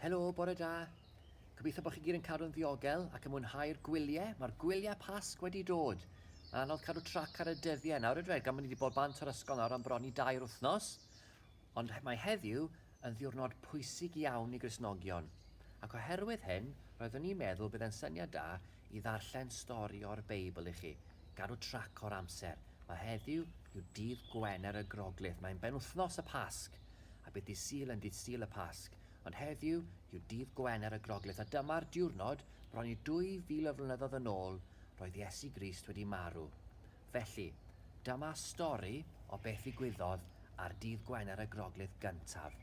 Helo, bore da. Gobeithio bod chi gyd yn cadw'n ddiogel ac yn mwynhau'r gwyliau. Mae'r gwyliau Pasg wedi dod. Mae'n anodd cadw trac ar y dyddiau nawr yn dweud gan bod ni wedi bod bant o'r ysgol nawr am bron i dair wythnos. Ond mae heddiw yn ddiwrnod pwysig iawn i Gristnogion. Ac oherwydd hyn, roeddwn i'n meddwl bydd e'n syniad da I ddarllen stori o'r Beibl i chi, gadw trac o'r amser. Mae heddiw yw dydd Gwener y Groglith, mae'n benwythnos y Pasg, a bydd dydd Sul yn dydd Sul y Pasg. Ond heddiw yw dydd Gwener y Groglith, a dyma'r diwrnod bron i 2000 o flynyddoedd yn ôl roedd Iesu Grist wedi marw. Felly, dyma stori o beth ddigwyddodd ar dydd Gwener y Groglith gyntaf.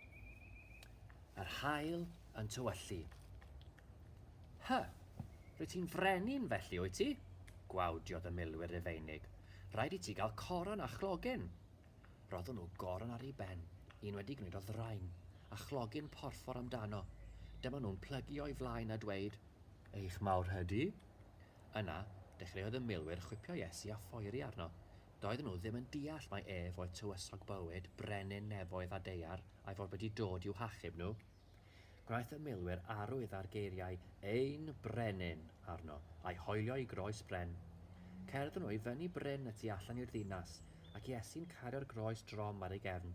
Yr haul yn tywyllu. Hy, rwy ti'n frenin felly, wyt ti? Gwawdiodd y milwyr Rufeinig. Rhaid i ti gael coron a chlogyn. Roeddwn nhw goron ar ei ben, un wedi gwneud o ddraen, a chlogyn porffor amdano. Dyma nhw'n plygu o'i flaen a dweud, Eich mawr hydy? Yna, dechreuodd y milwyr chwipio Iesu a phoeri arno. Doedden nhw ddim yn deall mai ef oedd tywysog bywyd, brenin nefoedd a deiar, a'i fod wedi dod i'w hachub nhw. Gwnaeth y milwyr arwydd ar geiriau ein brenin arno, a'i hoelio i groes bren. Cerddon nhw i fyny bryn y tu allan i'r ddinas, ac Iesu'n cario'r groes drom ar ei gefn.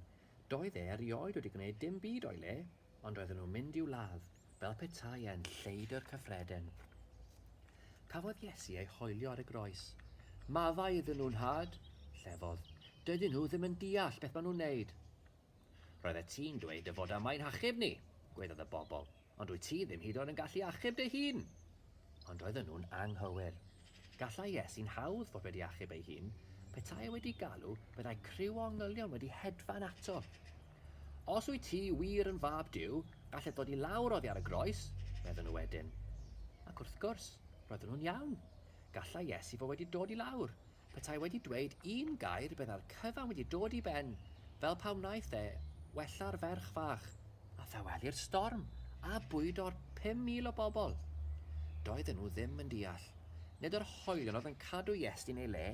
Doedd e erioed wedi gwneud dim byd o'i le, ond roedden nhw'n mynd i'w ladd, fel petai e'n lleidr cyffredin. Cafodd Iesu ei hoelio ar y groes. Maddau iddyn nhw, nhad! llefodd. Dydyn nhw ddim yn deall beth maen nhw'n neud. Roeddet ti'n dweud dy fod am ein hachub ni, gwaeddodd y bobl, ond wyt ti ddim hyd yn oed yn gallu achub dy hun! Ond roedden nhw'n anghywir. Gallai Iesu'n hawdd fod wedi achub ei hun, petai e wedi galw, byddai criw o angylion wedi hedfan ato. Os wyt ti wir yn fab Duw, galled ddod i lawr oddi ar y groes, meddwn nhw wedyn. Ac wrth gwrs, roedden nhw'n iawn. Gallai Iesu fod wedi dod i lawr. Petai wedi dweud un gair bydda'r cyfan wedi dod i ben, fel pa wnaeth e wella'r ferch fach, a thaweli'r storm, a bwydo'r 5,000 o bobl. Doedden nhw ddim yn deall. Nid yr hoelion oedd yn cadw Iesu yn ei le,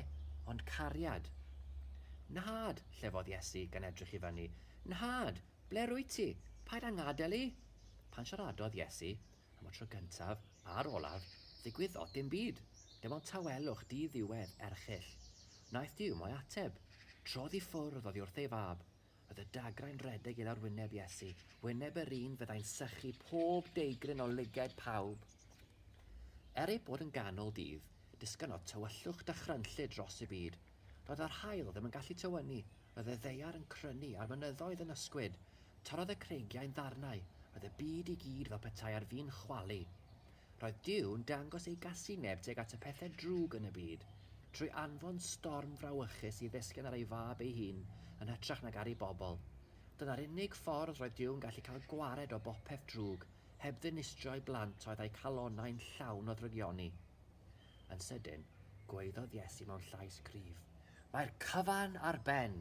ond cariad. Nhad, llefodd Iesu gan edrych i fyny, Nhad, ble rwyt ti? Paid â ngadael i! Pan siaradodd Iesu, Am y tro gyntaf, a'r olaf, ddigwyddodd dim byd. Dim ond tawelwch di-ddiwedd erchyll. Wnaeth Duw mo'i ateb. Trodd i ffwrdd oddi wrth ei fab. Roedd y dagrau'n rhedeg i lawr wyneb Iesu, wyneb yr un fyddai'n sychu pob deigryn o lygaid pawb. Er ei bod yn ganol dydd, disgynnodd tywyllwch dychrynllyd dros y byd. Doedd yr haul ddim yn gallu tywynnu, roedd y ddaear yn crynu a'r mynyddoedd yn ysgwyd. Torrodd y creigiau'n ddarnau, roedd y byd i gyd fel petai ar fin chwalu. Roedd Duw'n dangos ei gasineb tuag at y pethau drwg yn y byd, trwy anfon storm frawychus i ddesgen ar ei Fab ei hun yn hytrach nag ar ei bobl. Dyna'r unig ffordd roedd Duw'n gallu cael gwared o bopeth drwg, heb ddinistrio ei blant oedd â'u calonnau'n llawn o ddrygioni. Yn sydyn, gwaeddodd Iesu mewn llais cryf, Mae'r cyfan ar ben!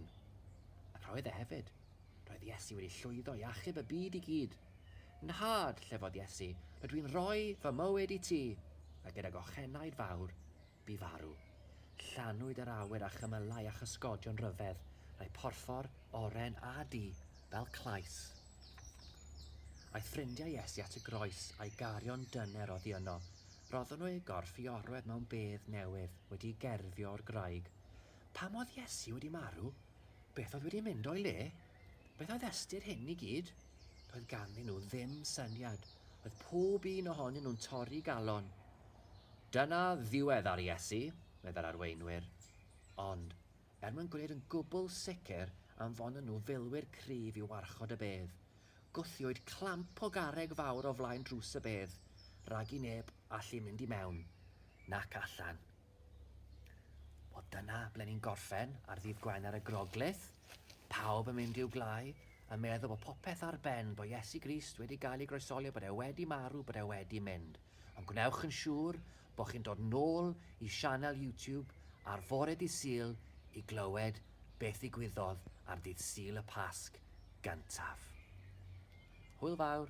Ac roedd e hefyd. Roedd Iesu wedi llwyddo i achub y byd i gyd. Nhad, llefodd Iesu, rydw i'n rhoi fy mywyd i ti, a gydag ochenaid fawr, bu farw. Llanwyd yr awyr a chymylau a chysgodion ryfedd, a'i phorffor, oren a du, fel clais. Aeth ffrindiau Iesu at y groes a'i garion dyner oddi yno, Roeddwn nhw eu gorff i orwedd mewn bedd newydd wedi gerfio o'r graig. Pam oedd Iesu wedi marw? Beth oedd wedi mynd o'i le? Beth oedd ystyr hyn i gyd? Doedd ganddyn nhw ddim syniad. Oedd pob un ohonyn nhw'n torri galon. Dyna ddiwedd ar Iesu, meddai'r arweinwyr. Ond, er mwyn gwneud yn gwbl sicr anfonon nhw filwyr cryf i warchod y bedd, Gwthiwyd clamp o garreg fawr o flaen drws y bedd, rag i neb allu mynd i mewn nac allan. Wel, dyna ble ni'n gorffen ar ddydd Gwener y Groglith. Pawb yn mynd i'w gwlâu, yn meddwl bod popeth ar ben, bod Iesu Grist wedi gael ei groesoli, bod e wedi marw, bod e wedi mynd. Ond gwnewch yn siŵr bod chi'n dod nôl i sianel YouTube ar fore dydd Sul i glywed beth ddigwyddodd ar ddydd Sul y Pasg gyntaf. Hwyl fawr!